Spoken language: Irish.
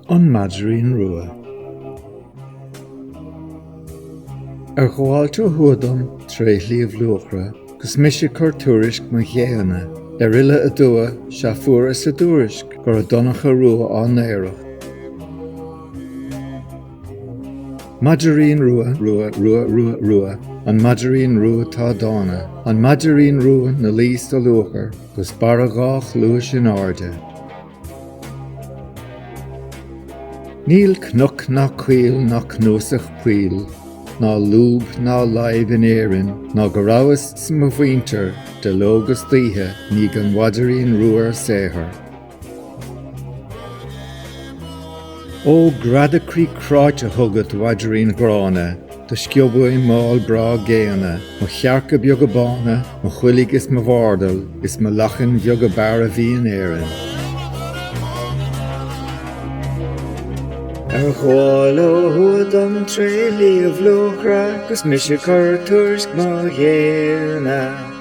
An Maidrín Rua. Ar ghabháilt ó thuaidh dom tré Shliabh Luachra 'gus mise cur tuairisc mo ghéanna ar fhilleadh aduaidh sea fuaras a dtuairisc gurb é Donncha Rua á n-aoireacht. Maidrín Rua, Rua, Rua, Rua, Rua, An Maidrín Rua atá dána an Maidrín Rua 'na luí sa luachair. 'gus barra dhá chluais in airde. Níl cnoc ná coill ná cnuasach poill ná lúb ná láib in Éirinn ná go rabhas 's mo mhuintir de ló 'gus d'oíche i ndiaidh an mhaidirín rua ar saothar. Ó, greadadh croí cráite chugat, mhaidrín ghránna, Do sciob uaim m'ál breá géanna, Mo chearca beaga bána, Mo choiligh is mo bhardail, Is mo lachain bheaga b'fhearr a bhí in Éirinn. Ar ghabháil ó thuaidh dom tré Shliabh Luachra, 'Gus mise 'cur tuairisc mo ghéanna.